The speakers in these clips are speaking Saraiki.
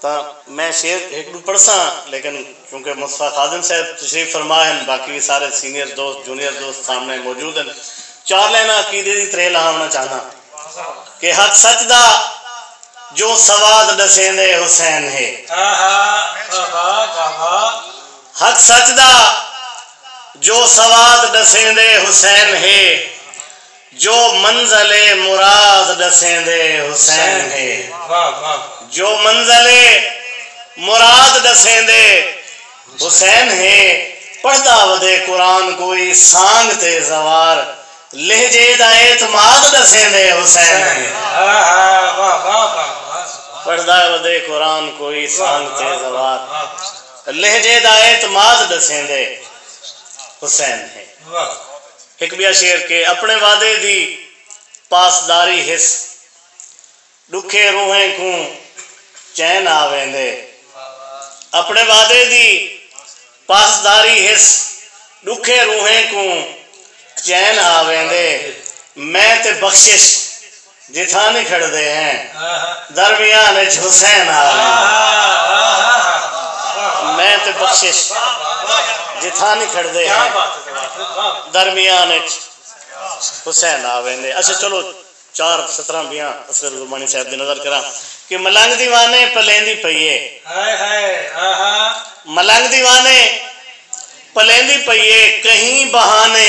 تاں میں شعر ہک ݙو پڑھساں لیکن کیونکہ مصطفی خادم صاحب تشریف فرما ہن باقی وی سارے سینئر دوست جونیئر دوست سامݨے موجود ہن چار لائناں عقیدے دی تریہہ لہاوݨا چاہنداں کہ حق سچ دا جو سواد ݙسیندے حسین ہے حق سچ دا جو سواد ݙسیندے حسین ہے۔ جو منزل مراد ݙسیندے حسین ہے۔ جو منزل مراد ݙسیندے حسین ہے۔ پڑھدا ودے قرآن کوئی سانگ تے زوار لہجے دا اعتماد ݙسیندے حسین ہے۔ پڑھدا ودے قرآن کوئی سانگ تے زوار لہجے دا اعتماد ݙسیندے حسین ہے۔ ہک ٻیا شعر کہ اپݨے وعدے دی پاسداری ہس ݙکھے روحیں کوں چین آ ویندے اپݨے وعدے دی پاسداری ہس ݙکھے روحیں کوں چین آ ویندے میں تے بخشش جتھاں نکھڑدے ہیں درمیان اچ حسین آ ویندے ہیں میں تے بخشش جتھاں نکھڑدے ہیں درمیان اچ حسین آ ویندے اچھا چلو چار سطراں بیاں اصغر گرمانی صاحب دی نظر کراں کہ ملنگ دیوانے پلیندی پئی اے ملنگ دیوانے پلیندی پئی اے کہیں بہانے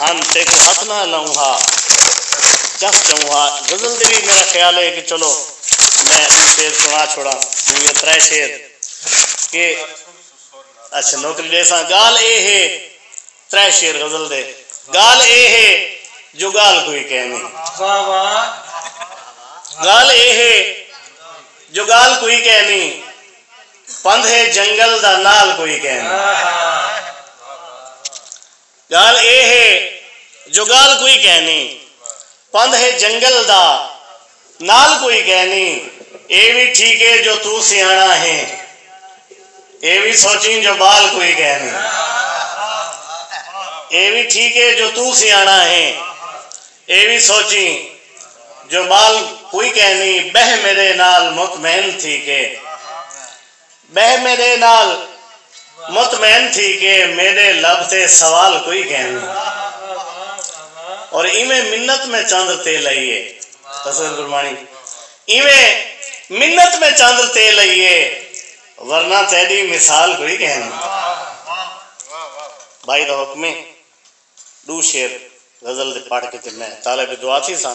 ہن تیکوں ہتھ نہ لاؤں ہا چس چاؤں ہا غزل دے وی میرا خیال ہے کہ چلو میں ݙو شعر سݨا چھوڑاں ݙو یا ترے شعر کہ اچھا نوکری ݙیساں ڳالھ اے ہے ترے شعر غزل دے ڳالھ اے ہے جو ڳالھ کوئی کینی ڳالھ اے ہے جو ڳالھ کوئی کینی پندھ ہے جنگل دا نال کوئی کینی۔ ڳالھ اے ہے جو ڳالھ کوئی کینی پندھ ہے جنگل دا نال کوئی کینی اے وی ٹھیک اے جو توں سیاݨا ہیں اے وی سوچیں جو ٻال کوئی کینی اے وی ٹھیک اے جو توں سیاݨا ہیں اے وی سوچیں جو ٻال کوئی کینی ٻہہ میݙے نال مطمئن تھی کے ٻہہ میݙے نال مطمئن تھی کے میݙے لب تے سوال کوئی گھن اور ایویں منت میں چاندر تے لئی اے اصغر گرمانی ایویں منت میں چاندر تے لئی اے ورنہ تیݙی مثال کوئی گھن بھائی دا حکم اے ݙو شعر غزل دے پڑھ کے تے میں طالب دعا تھیساں۔